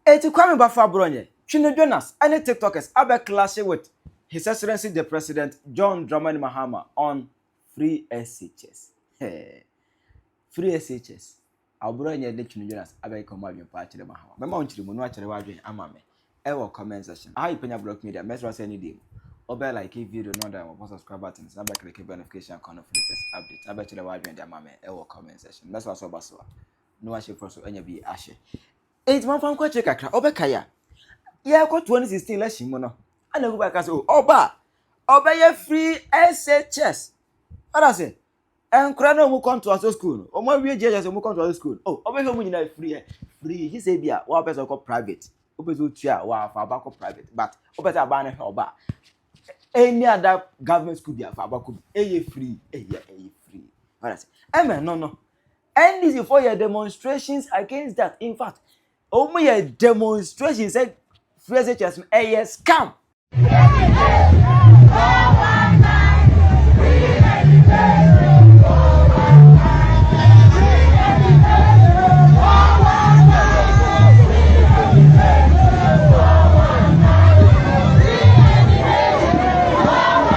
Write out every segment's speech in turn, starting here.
Enti Kwame Baffa Bronyɛ, Twino Jonas ne Tiktokers abɛ clashe with His Excellency the President John Dramani Mahama on FreeSHS. Hee. FreeSHS. Awo Bronyɛ ne Twino Jonas abɛ keka wɔn adwene pa akyerɛ Mahama. Mɛma wo nkyeremu na woakyerɛ w'adwene ama me wɔ comment section. Aha yɛ Panya Block Media, mɛsrɛ wo sɛ ne deɛ mu. Wobɛ like video no na wabɔ subscribe button na bɛ click notification icon no for latest updates na bɛkyerɛ w'adwene de ama me wɔ comment section. Mɛsrɛ wo sɛ woba so a na wahyɛ prɔ so anya bi ahyɛ. Enti wɔmfa nkɔ akyire kakra, ɔbɛkae a. Yɛrekɔ 2016 election mu no, ɛna Kuba ka sɛ, o, oh, ɔba a, ɔbɛyɛ free SHS. Ɔda sɛ, nkora na wɔn kɔntoa so school no, wɔn awie JHS, wɔn kɔntoa so school, o, oh, ɔbɛhwɛ wɔn nyinaa free ɛ, free, gye sɛ bi a, wɔn apɛ sɛ ɔkɔ private, wɔpɛ sɛ ɔtua a, wɔafa aba kɔ private, but wɔpɛ sɛ aba no hwɛ ɔba any other government school bi afa aba kɔ bi, ɛyɛ free, ɛyɛ, ɛyɛ free. Ɔda sɛ, ɛmɛ no no, NDCfoɔ yɛ demonstrations against that in fact wɔn yɛ demonstrations sɛ free SHS no ɛyɛ scam.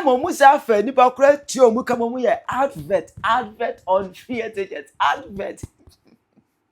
ɛma ɔmo saa fɛ nipa kora tua ɔmo kama ɔmo yɛ advert advert on free ticket advert.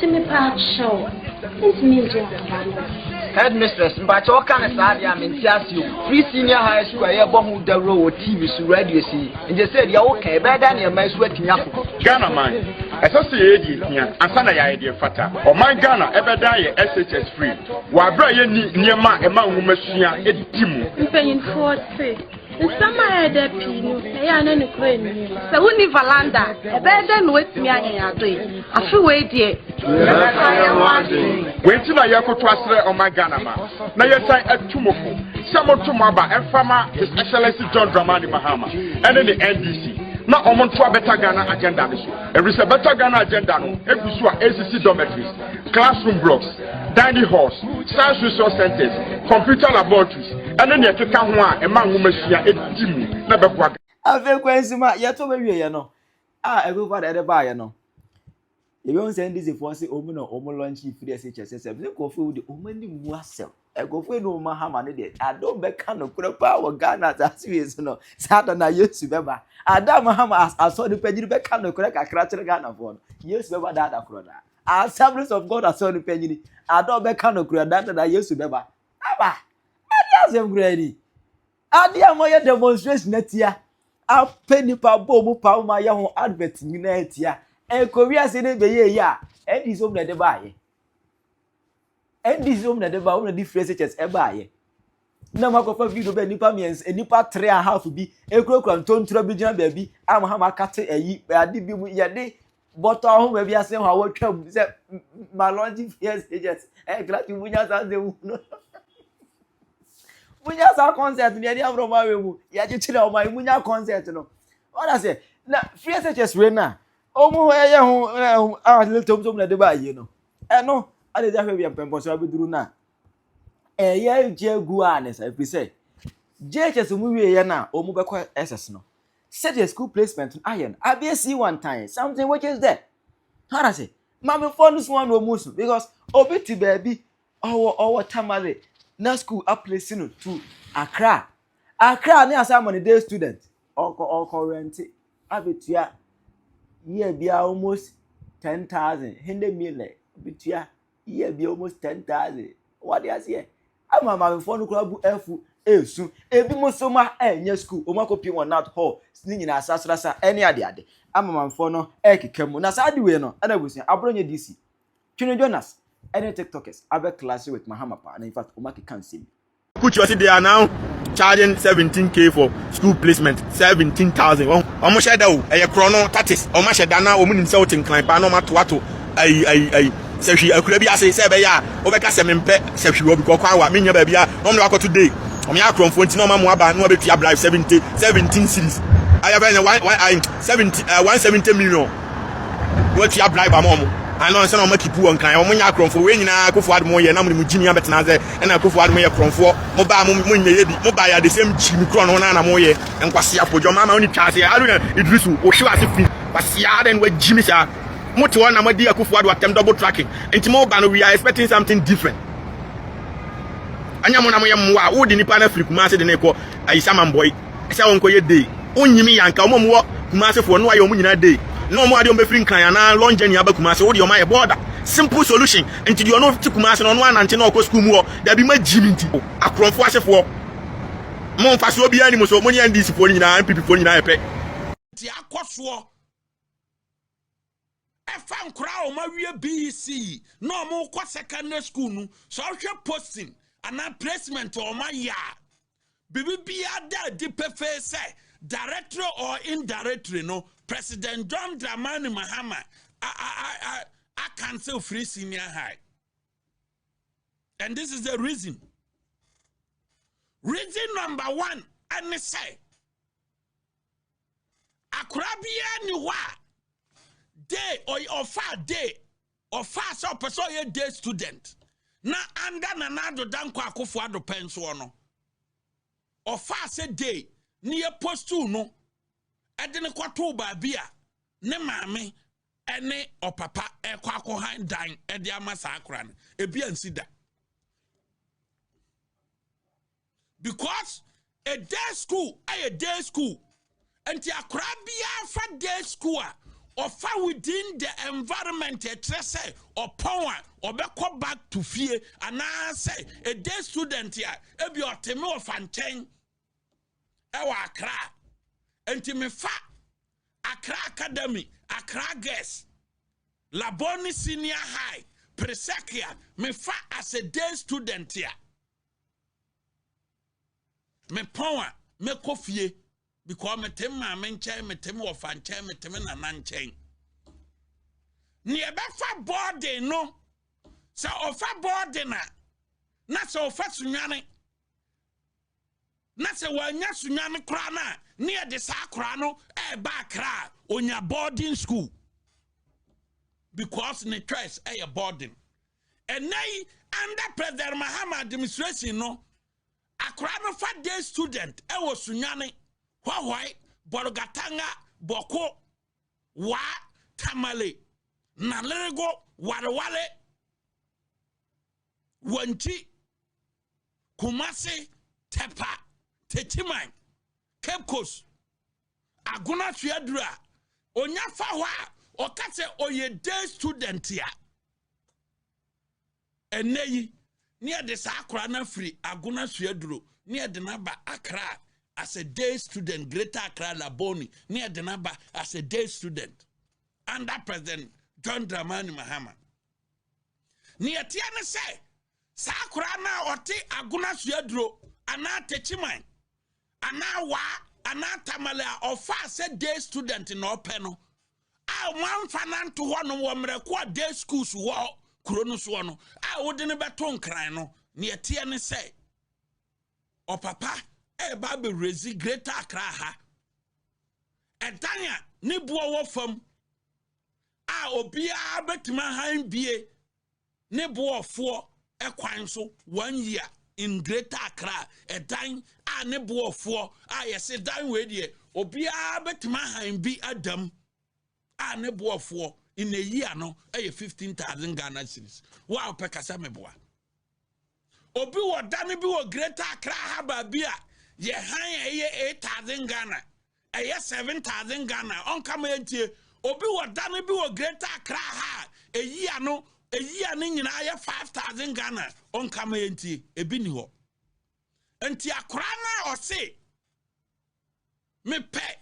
Ti mi paa kyɛw, ntumi ngye asɛmpa no o. Headmistress, mpakyɛ wo ka ne saa deɛ a mente ase o. Free senior high school a yɛbɔ ho dawuro wɔ TV so, radio so yi, ngye sɛ deɛ wo ka yi, ɛbɛyɛ dɛn na yɛma asu atumi akɔ? Ghana man, ɛsɛ sɛ yɛyɛ deɛ ɛhia ansa na yɛayɛ deɛ ɛfata. Ɔman Ghana ɛbɛdan yɛ SHS free wɔ aberɛ a yɛnni nneɛma a ɛma nwoma sua di mu. Mpanyinfoɔ se. Nsɛm a ɛyɛ dɛ pii no, ɛyɛ a na nokorɛ nni mu. Sɛ wonni valanda a, ɛbɛyɛ dɛn na woatumi ayɛ yɛn adɔe? Afe wei deɛ, yɛbɛsa yɛn ho adwene. Wei nti na yɛrekoto asrɛ ɔman Ghana ma na yɛsan atu mo fo sɛ monto mo aba mfama His Excellency John Dramani Mahama ɛne ne NDC na wɔn ntoa Better Ghana agenda no so, ɛfiri sɛ Better Ghana agenda no egu so a ɛresisi dormitories, classroom blocks, dining halls, science resource centers, computer laboratories, ɛne nea ɛkeka ho a ɛma nwomasua di mu na ɛbɛboa. Afei kwan si mu a yɛtɔ bɛwie yɛ no a ɛkɔkɔ na ɛde baayɛ no. Yɛbɛhu sɛ NDCfoɔ se wɔn na wɔn lɔnkye firi ase kyɛ sɛ sɛ ne nkurɔfoɔ de wɔn ani mu asɛm. Nkurɔfoɔ ani wɔn ahama no deɛ adom bɛka no korɛ paa wɔ Ghana asase wie so no saa da na Yesu bɛba. Adam hama asɔ nipa gyiri bɛka no korɛ kakra kyerɛ Ghanafoɔ no. Yesu bɛba daa da korɔ daa. Assemblies of God asɔre no panyin ada a ɔbɛka no kura da dada Yesu bɛba. Aba! Ade asɛm kura ni. Ade a wɔyɛ demonstration atia, apɛ nipa bɔ mu pa ma yɛ ho advert nyinaa atia. Ɛkɔ wiase ne bɛyɛ yi a, atheism na ɛde baayɛ. Ɛnde sisi wɔn na ɛde ba wɔn na ɛde firi SHS ɛbaayɛ na mo akɔfa video bɛ nipa mmiɛnsa nipa three and half bi ekurakura ntontura bi gyina baabi a mo ha mo akate ɛyi ade bi mu yɛde bɔtɔ ahoma bi ase hɔ a wɔtwa mu sɛ ma lɔgye fi SHS ɛyɛ gilati mu nya saa nsɛm mu no mo nya saa concert no yɛde amoro mo awɛ mu yɛkyekyere ɔmo ayi mo nya concert no wɔn asɛ na fi SHS wei na ɔmo yɛ ho ɛho a ne tɔm tɔm na ɛde ba ayie no. Ɛno, ɛna ɛdi ahwɛ bia mpɛmpɔnso abɛduru no a, ɛyɛ gye gu a ne sa, ɛfiri sɛ JHS mu wieɛ no a wɔn bɛkɔ SS no, sɛdeɛ school placement no ayɛ no, adeɛ si wɔn tan, something which is there. Hana sɛ, maamefoɔ no so wɔn na wɔn so, because obi te baabi, ɔwɔ ɔwɔ Tamale, na school aplace no to Accra. Accra ne asan ma no day student, ɔkɔ ɔkɔ rente. abɛtua year biara almost ten thousand hende mile bɛtua year biara almost ten thousand wɔde aseɛ ama maamefoɔ no koraa bu afu ɛresu ebi mo nso ma ɛnyɛ school wɔn akɔpie wɔn nut hall ne nyinaa sasrasa ɛne adeade ama maamefoɔ no ɛrekeka mu na saa adiwei no ɛna abusua aborɔ nyɛ dc twene jonas ɛne tiktokers abɛ class with mahama paa na in fact wɔn akeka nsɛm bi. Put your they are now charging 17k for school placement 17000 wɔn wɔn hyɛ da o ɛyɛ korɔ no tatis wɔn ahyɛ da na wɔn nim sɛ wɔte nkran paa na wɔn ato ato ayi ayi ayi sɛhwi akura bi ase sɛ ɛbɛyɛ a wɔbɛka sɛ mempɛ sɛhwi wɔ bi kɔ kwan wa menya baabi a wɔn na wakɔto day wɔn yɛ akorɔmfoɔ nti na wɔn amu aba na wɔbɛtua bribe 70 17 series ayɛ bɛyɛ 170 170 million Won tua bribe ama ɔmo ana ɔnsɛ na ɔmo keep wɔ nkran ɔmo nyɛ akorɔnfoɔ wei nyinaa akufo ado mo yɛ na mo ne mo gyimi abɛtena asɛ ɛna akufo ado mo yɛ korɔnfoɔ mo baa mo mo nyɛ yɛ bi mo baeɛ the same gyimi korɔ no na na mo yɛ nkwasea fo dwɔma ama ɔne twa aseɛ Haruna Idrisu wo hyew ase fi kwasea adɛn wa gyimi saa mo te hɔ na mo adi akufo ado atɛm double tracking nti mo ba no we are expecting something different ɛnyɛ mo na mo yɛ mmoa a wo de nipa na firi kuma ase de ne kɔ ayi saman boy. sɛ wɔnkɔyɛ day wonyim yɛ anka wɔn a wɔwɔ Kumasi foɔ no ayɛ wɔn nyinaa day na wɔn adeɛ wɔn bɛfiri Nkran anaa long journey aba Kumasi wo deɛ wɔn ayɛ border simple solution nti deɛ ɔno te Kumasi no ɔno anante na ɔkɔ school mu hɔ dabi ma gyi me nti akorɔmfo ase foɔ mo mfasoɔ biara ni mo so mo ne NDC foɔ no nyinaa NPP foɔ no nyinaa yɛ pɛ. Nti akɔ soɔ Ɛfa nkwadaa a wɔawie BECE na wɔrekɔ secondary school no, sɛ ɔhwɛ posting anaa placement a wɔayɛ a, biribiara da adi pefee sɛ directly or indirectly no, President John Dramani Mahama akanse firi senior high. And this is the reason. Reason number one, ɛne sɛ, Akwadaa biara ni hɔ a day ɔfaa day ɔfaa sɛ ɔpɛ sɛ ɔyɛ day student na anda nana ado dankɔ akofo ado pɛn soɔ no ɔfaa sɛ day ne yɛ postuu no ɛde ne kɔtoo baabi a ne maame ɛne ɔpapa ɛkɔ akɔhan dan ɛde ama saa akora no ebi ansi da because day school ɛyɛ day school nti akora biara fa day school a ɔfa within the environment ɛkyerɛ sɛ ɔpɔn a ɔbɛkɔ back to fie anaasɛ a day student a ebi ɔteme ɔfa nkyɛn ɛwɔ akra nti mefa akra academy akra girls labone senior high presekia mefa as a day student a Mepɔn a, mɛkɔ fie because mete me maame nkyɛn, mete me wɔfa nkyɛn, mete me nana nkyɛn. Nea ɛbɛfa bɔɔden no, sɛ ɔfa bɔɔden a, na sɛ ɔfa sunwane, na sɛ wanya sunwane koraa no a, ne yɛde saa koraa no ɛreba eh, akra a onya boarding school because ne choice ɛyɛ eh, boarding. Ɛnnɛ yi, under President Mahama administration no, akwadaa no fa day student ɛwɔ Sunyani, Hwahwae, Bolgatanga, Boko, Wa, Tamale, Nalerigo, Wareware, Wanti, Kumasi, Tepa, Techiman, Cape Coast, Agona so aduru a onya fa hɔ a ɔka sɛ ɔyɛ day student a ɛnɛ yi ne yɛde saa akora no afiri agona so aduro ne yɛde no aba akra as a day student greater akra laboni ne yɛde no aba as a day student under president john dramani mahama ne yɛteɛ ne sɛ Saa akwadaa no a ɔte Agona Suaduro anaa Techiman anaa Waa anaa Tamale a ɔfaa sɛ day student na ɔpɛ no a wɔamfa no anto hɔnom wɔ mmerɛko a day schools wɔ kuro no soɔ no a wode no bɛto nkran no neɛ teɛ ne sɛ ɔpapa ɛreba abɛwurɛzi Greater Accra ha ɛdan a ne boɔ wɔ fam a obiara bɛtumi ahan bie ne boɔfoɔ kwan so one year in greater accra ɛdan a ne boɔfoɔ a yɛse dan wei deɛ obiara bɛtumi ahan bi adam a ne boɔfoɔ in a year no ɛyɛ fifteen thousand ghana cedis wo a wopɛ kasa meboa Obi wɔ dan bi wɔ Greater Accra ha baabi a yɛ han a ɛyɛ eight thousand Ghana, ɛyɛ seven thousand Ghana, ɔnka ma yɛntie. Obi wɔ dan bi wɔ Greater Accra ha a ɛyi ano ɛyi ano nyinaa yɛ five thousand Ghana, ɔnka ma yɛntie. Ebi ni hɔ. Nti akora no a ɔse mepɛ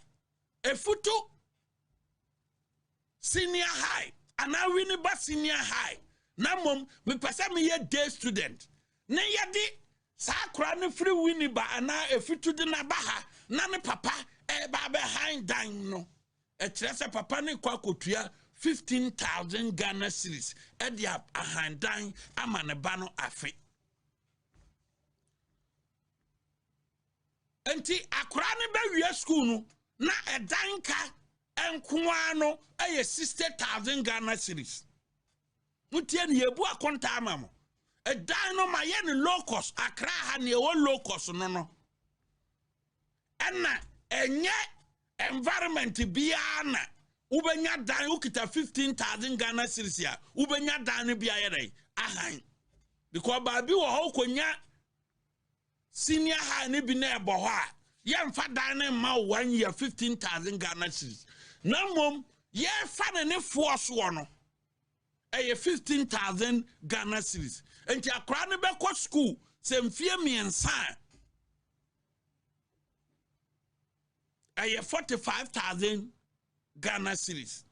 efutu senior high anaa wini ba senior high na mmom mepɛ sɛ meyɛ day student ne yɛde saa akora no firi wini ba anaa efitu de n'aba ha na ne papa ɛreba eh, abɛhan dan no ɛkyerɛ sɛ papa no kɔ akɔtua 15000 ghana series ɛde ahan dan ama ne ba no afe Enti akwaraa no bɛwie sukuu no na ɛdan ka nko ara no yɛ sixty thousand Ghana cedis. Motie no yɛbu akonta ama mo. Ɛdan no ma yɛ no low cost akra ha nea ɛwɔ low cost no no. Ɛna ɛnyɛ environment biara na wobɛnya dan wokita fifteen thousand Ghana cedis a wobɛnya dan no bi ayɛ dɛ ahan. Because baabi wɔ hɔ wokɔnya Senior high no bi na ɛbɔ hɔ a yɛmfa dan no mma wo one year fifteen thousand Ghana cedis na mmom yɛfa no ne foɔ soɔ no ɛyɛ fifteen thousand Ghana cedis nti akwaraa no bɛkɔ sukuu sɛ mfie mmiɛnsa a ɛyɛ forty five thousand Ghana cedis.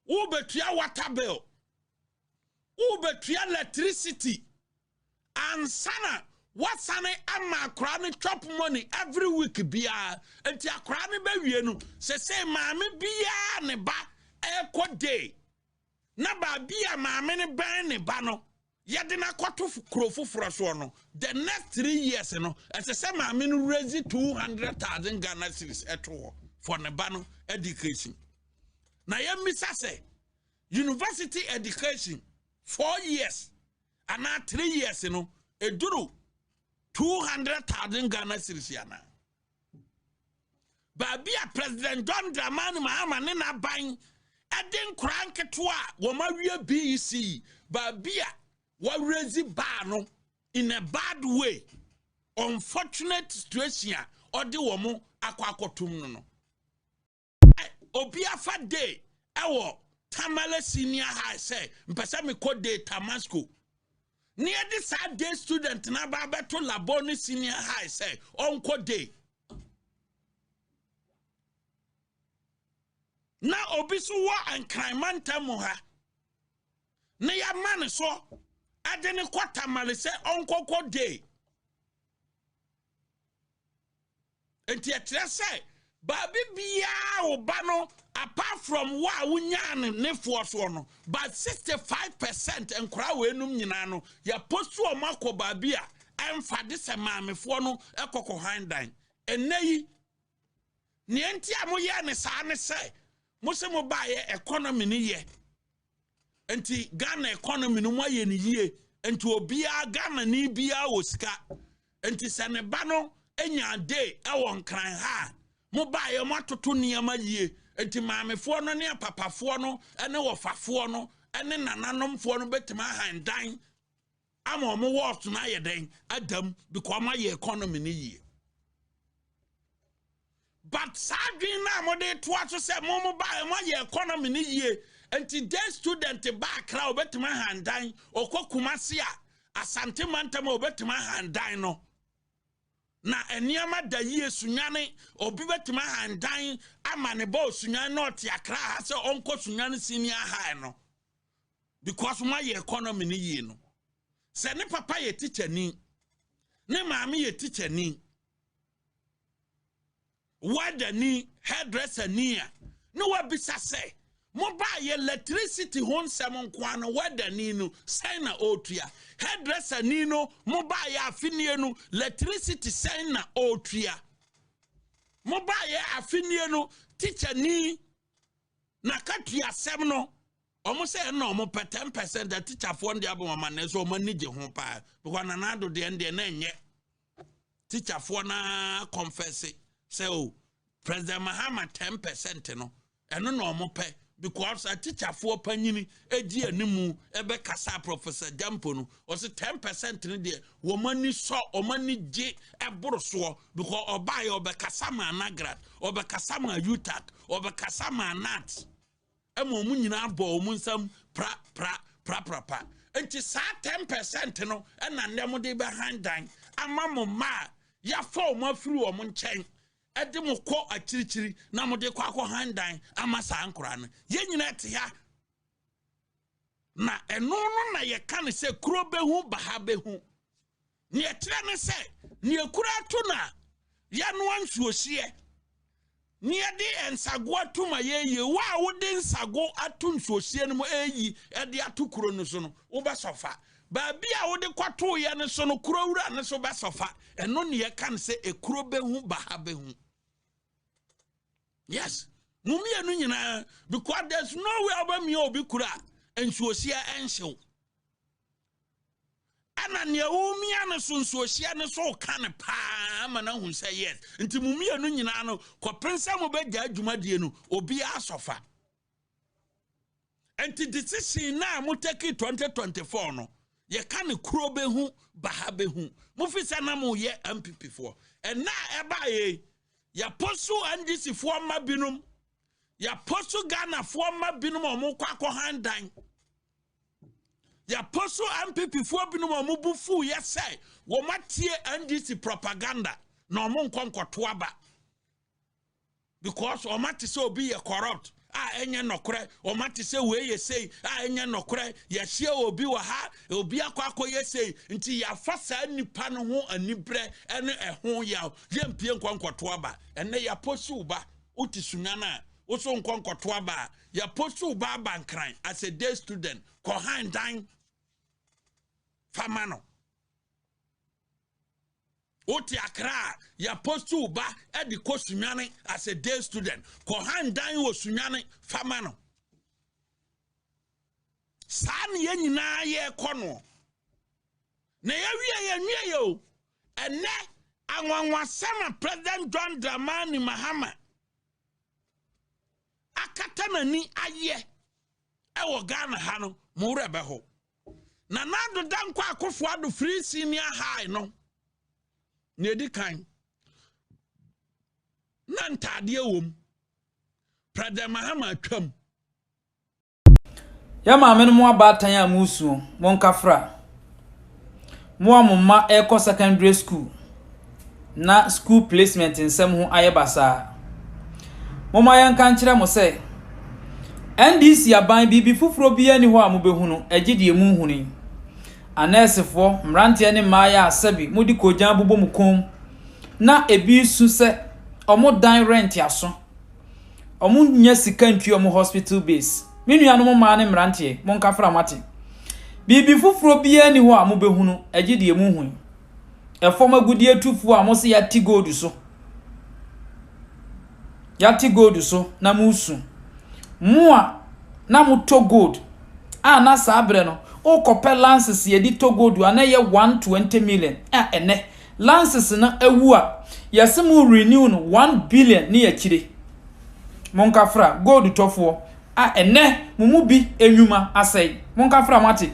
Worebɛtua water bill, worebɛtua electricity, ansa na woasane ama akwaraa no chop money every week biara. Nti akwaraa no bɛwie no, sɛ sɛ maame biara ne ba ɛrekɔ day, na baabi a maame no bɛn ne ba no, yɛde no akɔto kuro foforɔ soɔ no the next three years no ɛsɛ sɛ maame no raise two hundred thousand ghana cedis ɛto hɔ for ne ba no education na yɛmmisa sɛ university education four years anaa three years no ɛduru two hundred thousand ghana cedis anaa baabi a president john dramani mahama ne n'aban ɛde nkora nketewa a wɔn awie bec yi baabi a wɔawerɛdzi baa no in a bad way unfortunate situation a ɔde wɔn akɔ akɔtom no no obi afa day ɛwɔ tamale senior high sɛ mpɛ sɛ mekɔ day tamasco ne yɛde saa day student no aba abɛto labɔ ne senior high sɛ ɔnkɔ day na obi so wɔ nkranma ntam ha ne yɛama ne so ɛde ne kɔ tamale sɛ ɔnkɔkɔ day Enti ɛkyerɛ sɛ baabi biara wo ba no apart from wo a wonyaa no ne foɔ soɔ no but 65 percent nkora wɔ enum nyinaa no yɛpost wɔn akɔ baabi a ɛmfa de sɛ maamefoɔ no ɛkɔkɔ han dan ɛnɛ yi nea nti a moyɛ ne saa ne sɛ mo se mo baayɛ economy no yɛ nti ghana economy no mu ayɛ no yie nti obiara ghana ni biara wɔ sika nti sɛ ne ba no nya day ɛwɔ nkran ha a mo baayɛ mo atoto nneɛma yie nti maamefoɔ no ne apapafoɔ no ne wɔfafoɔ no ne nananomfoɔ no bɛtumi ahan dan ama wɔn wealth no ayɛ dɛn adam because wɔn ayɛ economy no yie but saa adwene no a mode toa so sɛ mo mo ba mo ayɛ economy no yie nti day student ba akra obetumi ahandan ɔkɔ kumase a asante mantam a obetumi ahandan no na nneɛma da yie sunyane obi betumi ahandan ama ne ba osunyane na ɔte akra ha sɛ ɔnkɔ sunyane senior high no. because mo ayɛ economy no yie no sɛ ne papa yɛ tikyani ne maame yɛ tikyani wadani hairdresser ni a ne wabisa sɛ mobaa yɛ electricity ho nsɛm nkoa no wadani no sɛn na ɔretua hairdresser ni no mobaa yɛ afenie no electricity sɛn na ɔretua mobaa yɛ afenie no tikyani n'akatua asɛm no wɔn sɛ ɛna wɔn pɛ ten percent atikyafoɔ no deɛ abɔ wɔn ama na ɛsɛ wɔn ani gye ho paa because nana ado deɛ no deɛ na ɛnyɛ tikyafoɔ naa kɔnfɛse sɛ o president mahama ten percent no ɛno na wɔn pɛ because atikyafoɔ panyini edi anim ɛbɛkasa professor jampo no ɔsi ten percent no deɛ wɔn ani sɔ wɔn ani gye ɛboro soɔ because ɔbaa yɛ ɔbɛkasa maa nagrat ɔbɛkasa maa utak ɔbɛkasa maa nat ɛma wɔn nyinaa bɔ wɔn nsam pra pra pra pra pra nti saa ten percent no ɛna nnɛ mo de bɛhan dan ama mo mma a yafa wɔn afiri wɔn nkyɛn ɛde mo kɔ akyirikyiri na mo de kɔ akɔ han dan ama saa nkora no yɛn nyinaa te ha. Na ɛno no na yɛka no sɛ kuro bɛhu baha bɛhu. Neɛ ɛkyerɛ ne sɛ neɛ kuro ato no a yɛanoa nsuohyeɛ ne yɛde nsago ato ma yɛyie wo a wode nsago ato nsuohyeɛ no mu ɛyi ɛde ato kuro no so no wobɛsɔfa baabi a wode kɔtoeɛ no so no kuro wura no so bɛsɔfa ɛno neɛ ɛka no sɛ ɛkuro bɛhu baha bɛhu yes mo mmienu nyinaa because there's no way ɔbɛmia obi kura a nsuohyia ɛnhyew ɛna nea womia no so nsuohyia no so ka no paa ma no ahu sɛ yes nti mo mmienu nyinaa no kɔpen sɛ mobɛgya adwumadie no obiara sɔfa Ɛnti decision no a mo take 2024 no yɛ ka no kuro bɛ hu baha bɛ hu mo fi sɛ na mo yɛ MPP foɔ ɛnna a ɛba yɛ yɛ poso NDC foɔ mma binom yɛ poso Ghana foɔ mma binom a wɔn kɔ akɔ han dan yɛ poso MPP foɔ binom a wɔn bu fu yɛ sɛ wɔn atie NDC propaganda na wɔn nkɔ nkɔto aba. Because wɔate sɛ obi yɛ corrupt a ɛnyɛ nɔkorɛ, wɔate sɛ wei yɛ sei a ɛnyɛ nɔkorɛ, yɛahyia obi wɔ ha, obi akɔ akɔyɛ sei, nti yɛafa saa nipa no ho anibrɛ ɛne ɛho yaw, yɛmpie nkɔ nkɔto aba. Ɛnɛ yɛaposiw ba, wote sunya no a, woso nkɔ nkɔto aba a, yɛaposiw ba aba nkran as a day student, kɔ han dan, fama no. Wote akra a, yɛ post wo ba de kɔ Sunyani as a day student. Kɔ han dan wɔ Sunyani fa ma no. Saa ne yɛn nyinaa yɛrekɔ no. Na yɛwie yɛnwie yɛ o. Ɛnɛ anwanwasɛm a President John Dramani Mahama akata n'ani ayɛ ɛwɔ Ghana ha no, mo werɛ bɛho. Nana Addo Dankwa Akufo Addo Free Senior High no na ɛdi kan na ntaadeɛ wɔ mu President Mahama atwam Yɛn maame no mo abaatan a moresuo, monkafra. Mo a mo mma rekɔ secondary school na school placement nsɛm ho ayɛ basaa, momma yɛnka nkyerɛ mo sɛ, NDC aban biribi foforɔ biara nni hɔ a mobɛhunu gye deɛ monhunu yi. Anɛɛsefoɔ, mmeranteɛ ne mmaeɛ a sɛbe mode koogyan bobɔ mo kɔn mu na ɛbi resu sɛ wɔdan rent aso, Ɔmo nnya sika ntua ɔmo hospital bills. Me nuanom mmaa ne mmeranteɛ, monka fra moate. Biribi foforɔ biara nni hɔ a mobɛhunu agye deɛ mohu yi. Ɛfam agudeɛ tufoɔ a mose yɛate gold so. Yɛate gold so na mosu. Mo a na motɔ gold a na saa berɛ no wokɔpɛ lances yɛde tɔ gold a na ɛyɛ 120 million a ɛnɛ Lances no awu a yɛse mo renew no one billion ne akyire. Monka fra gold tɔfoɔ a ɛnɛ mo mu bi nnwuma asɛe. Monka fra moate.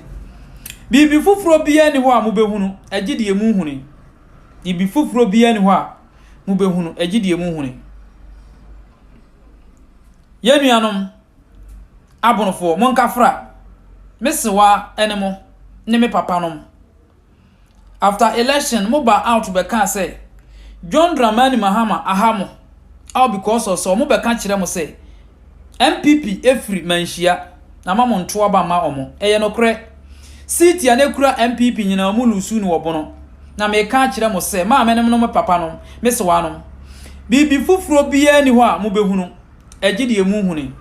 Biribi foforɔ biara nni hɔ a mobɛhunu agye deɛ mohunu yi. Biribi foforɔ biara nni hɔ a mobɛhunu agye deɛ mohunu yi. Yɛn nuanom abonofoɔ monka fra. Me sewa ne mo ne me papa nom. After election no, wɔbaa out bɛkaa sɛ, John Dramani Mahama aha mo all because of sɛ wɔbɛka kyerɛ mo sɛ NPP firi Manhyia na ama mo nto aba mma wɔn. Ɛyɛ nokorɛ. Seat a na ɛkura NPP nyinaa wɔn loose no wɔ Bono. Na meka akyerɛ mo sɛ, maamenom ne mo papanom, me sewaanom, biribi foforɔ biara nni hɔ a mobɛhunu. Ɛgye deɛ mu huni.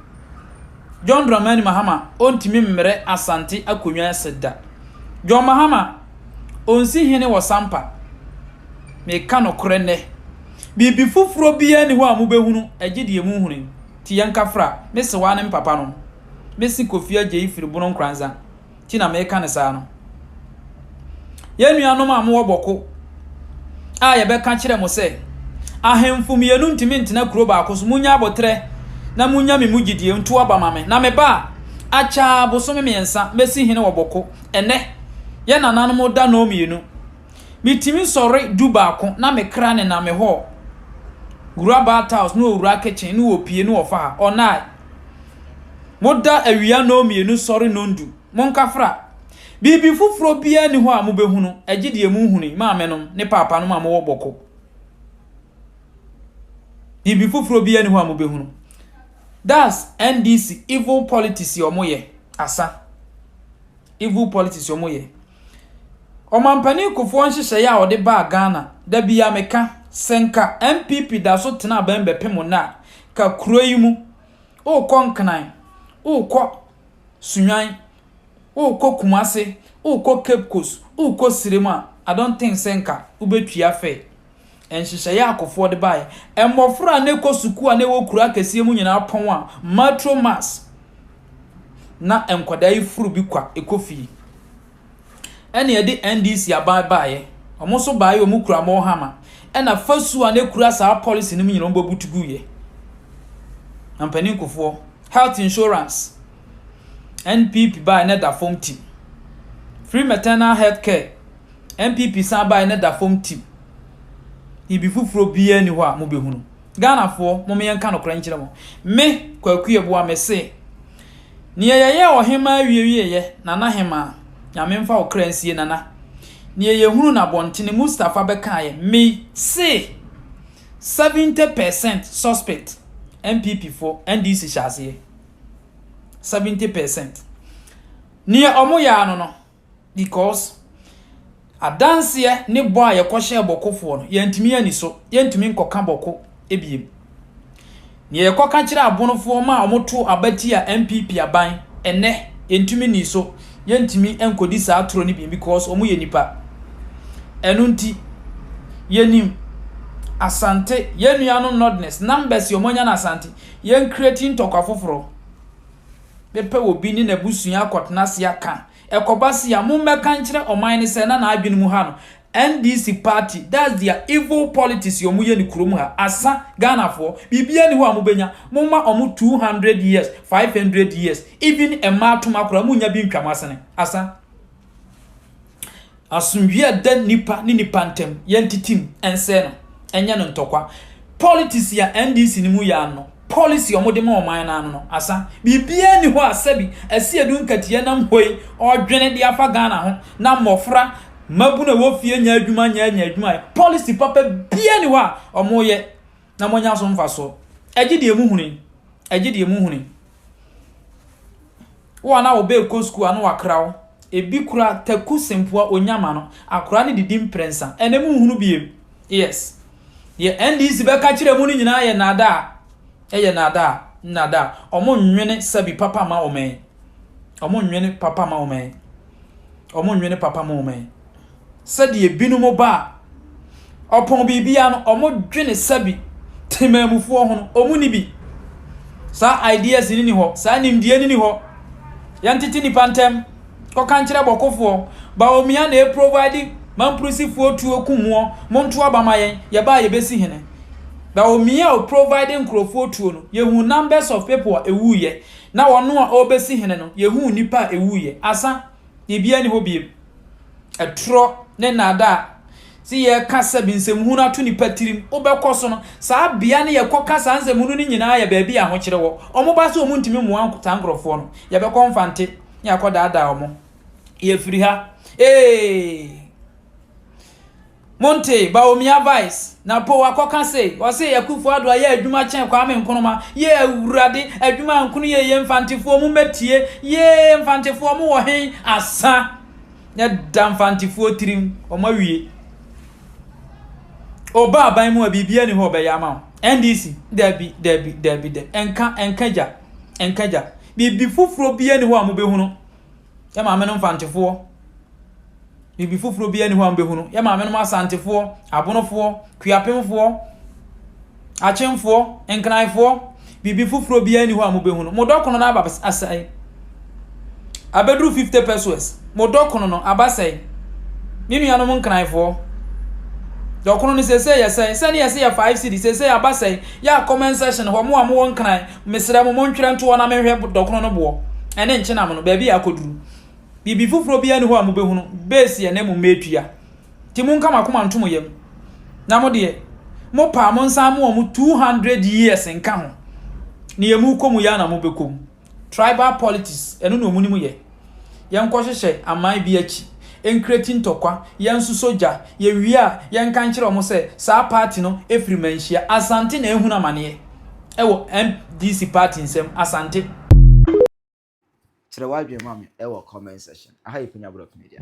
John Dramani Mahama ɔntumi mmrɛ Asante akonnwa ase da. John Mahama ɔnsi hene wɔ Sampa. Meka nokorɛ nnɛ. Biribi foforɔ biara nni hɔ a mobɛhunu, ɛgye deɛ mu huni. Nti yɛnka fra, me sewaa ne mpapa no, me se Kofi Agyei firi Bono Nkranza. nti na meka no saa no. Yɛn nuanom a mowɔ Bɔko a yɛbɛka kyerɛ mo sɛ, ahemfo mmienu ntumi ntena kuro baako so, munya aboterɛ na munya me mu gyidie, nto aba ma me. Na me ba a, akyaa bosome mmiɛnsa, mɛsi hene wɔ Bɔko. Ɛnnɛ, yɛn nananom da nnɔɔ mmienu. Metumi sɔre du baako na me kra nenam me hɔɔ. Wura Bartels ne ɔwura Kitchen ne ɔpie ne ɔfa ha, ɔnae. Moda awia nnɔnmienu sɔre nnɔndu, monkafra. Biribi foforɔ biara nni hɔ a mobɛhunu, agye deɛ mohunui, maamenom ne paapanom a mowɔ bɔkɔ. Biribi foforɔ biara nni hɔ a mobɛhunu. That's NDC evil politics yɛ ɔmo yɛ, asa. Evil politics yɛ ɔmo yɛ. Ɔmampanin Kufuor nhyehyɛeɛ a ɔde baa Ghana, da biara meka, sɛ nka NPP da so tena abɛn bɛpem nnɛ a, ka kuro yi mu, worekɔ Nkran, worekɔ Sunyani, worekɔ Kumasi, worekɔ Cape Coast, worekɔ Sirem a, I don't think sɛ nka wobɛtua fare. Nhyehyɛeɛ a Akufoɔ de baeɛ, mmɔfra a na ɛkɔ sukuu a na ɛwɔ kuro akɛseɛ mu nyinaa pɔn a, Matro Mass, na nkwadaa yi foro bi kwa kɔ fie. ɛna ɛde NDC aban baeɛ. Wɔn nso baeɛ wɔn kura mall hama. Ɛna fasuo a na ɛkura saa policy no mu nyinaa wɔn bɔ butu guiɛ. Na mpanin kofoɔ, health insurance, NPP baeɛ na ɛda fam tim. Free maternal health care, NPP san baeɛ na ɛda fam tim. Ibi foforɔ biara ni hɔ a mobɛhunu. Ghanafoɔ mom yɛnka nokorɛ nkyerɛ mo, me Kwaku Yeboah mese, neɛ yɛyɛɛ Ɔhemaa wie wieɛ Nana Hemaa, Nyame mfa wo kra nsie Nana, neɛ yɛhunu no abɔntene Mustapha bɛkaeɛ me se 70 per cent suspect NPP foɔ, NDC hyɛ aseɛ 70 per cent neɛ ɔmo yɛɛ ano no, because adanseɛ ne bɔ a yɛkɔhyɛɛ bɔkofoɔ no yɛntumi ani so yɛntumi nkɔka bɔko ebiem nea yɛkɔka kyerɛ abonofoɔ ma a wɔto abati a npp aban ɛnɛ yɛntumi ni so yɛntumi nkɔdi saa toro no bi because wɔn yɛ nipa ɛno nti yɛnim asante yɛn nua no nordness numbers yɛ wɔn anya no asante yɛn creating tɔkwa foforɔ bɛpɛ obi ne n'abusua akɔtena ase aka. Ɛkɔba se a, mommɛka nkyerɛ ɔman no sɛ na n'adwene mu ha no, NDC party, that's their evil politics a wɔyɛ no kurom ha. Asa, Ghanafoɔ, biribiara nni hɔ a mobɛnya. Momma wɔn 200 years, 500 years, even mmaa toma koraa, monnya bi ntwa mo asene. Asa. Asomdwie a ɛda nnipa ne nnipa ntam, yɛntetem, ɛnsɛe no, ɛnyɛ no ntɔkwa. Politics a NDC no mu yɛ ano, policy a wɔde ma ɔman no ano no, asa. Biribiara nni hɔ a sɛbi Asiedu Nketiah nam hɔ yi ɔredwene de afa Ghana ho na mmɔfra, mmabunu a ɛwɔ fie nyɛ adwuma nyɛ anya adwuma ayɛ. Policy papa biara nni hɔ a wɔyɛ. na moanya so mfaso. Egye deɛ mohuni. Egye deɛ mohuni. Wo a na wo ba ɛkɔ sukuu ano wakra wo, ebi kura Taku Sempoa Onyama no, akora no didi mprɛnsa, ɛnɛ monhunu biem. Yes. Deɛ NDC bɛka kyerɛ mo no nyinaa yɛ nnaadaa. Ɛyɛ nnaadaa. Nnaadaa. Ɔmo nnwene sɛbi papa ma ɔman yi. Ɔmo nnwene papa ma ɔman yi. Ɔmo nnwene papa ma ɔman yi. sɛdeɛ binom ba a, ɔpɔn biribiara no, ɔmo dwene sɛbi temanmufoɔ ho no, ɔmo ni bi. Saa ideas ni ni hɔ, saa nimdeɛ ni ni hɔ. Yɛntete nipa ntɛm, kɔka nkyerɛ bɔkofoɔ, ba omia na ɛprovide mamprosifoɔ tuo ku moɔ, monto aba ma yɛn, yɛba a yɛbɛsi hene. Ba omia o provide nkurofoɔ tuo no, yɛhuu numbers of people a ɛwuiɛ, na ɔno a ɔbɛsi hene no, yɛhuu nipa a ɛwuiɛ. Asa, biribiara ni hɔ biem. Atorɔ ne nnaadaa. Sɛ yɛka sɛ nsɛmhunu ato nnipa tirim, wobɛkɔ so no, saa bea no yɛkɔka saa nsɛmhunu no nyinaa yɛ baabi a ahokyere wɔ. Wɔba sɛ wɔntumi mmoa saa nkurɔfoɔ no, yɛbɛkɔ Mfante na yɛakɔdaadaa wɔn. Yɛfiri ha. Ee! Montee, Bawumia vice, na po wakɔka sei, ɔsee Akuffo Addo ayɛ adwuma kyɛn Kwame Nkrumah, yee Awurade, adwuma nkono yɛ yie, Mfantefoɔ mo mɛtie, yee, Mfantefoɔ mo wɔ hen, asa, na ɛda Mfantefoɔ tirim, wɔn awie. Ɔba aban mu a biribi ani hɔ ɔbɛyɛ ama wo, NDC, dabi, dabi, dabi, dabi, ɛnka, ɛnka gya, ɛnka gya, biribi foforɔ bi ani hɔ a mobɛhunu, Yɛ maame no mfantefoɔ. Biribi foforɔ biara ni hɔ a mobɛhu no. Yɛ maame no asantefoɔ, abonofoɔ, kuapemfoɔ, akyemfoɔ, nkranfoɔ. Biribi foforɔ biara ni hɔ a mobɛhu no. Mo dɔkono no aba asɛe. Abɛduru 50 pesos. Mo dɔkono no aba sɛe. Me nuanom nkranfoɔ. Dɔkono no sese yɛsɛe. Sɛne yɛse yɛ 5 cedi sese aba sɛe. Yɛ a comment section hɔ mo a mowɔ nkran. Mesrɛ mo, montwerɛ nto hɔ na menhwɛ dɔkono no boɔ ne nkyenam no, baabi a akɔduru. Biribi foforɔ biara nni hɔ a mobɛhunu, bɛɛsiɛ na mmom mɛtua. Nti monka mo akoma nto mo yam. Na mo deɛ, mopɛ a monsan mo wɔn 200 years nka ho. Nea mokɔ mu yi ara na mobɛkɔ mu. Tribal politics, ɛno na wɔnim yɛ. yɛnkɔhyehyɛ aman bi akyi, nkreti ntɔkwa, yɛnsosɔ gya, yɛwie a yɛnka nkyerɛ wɔn sɛ saa party no firi manhyia. Asante na ɛrehunu amaneɛ ɛwɔ MDC party nsam, Asante. Kyerɛ w'adwene ma me wɔ comment section. Aha yɛ Penya Brɔk Media.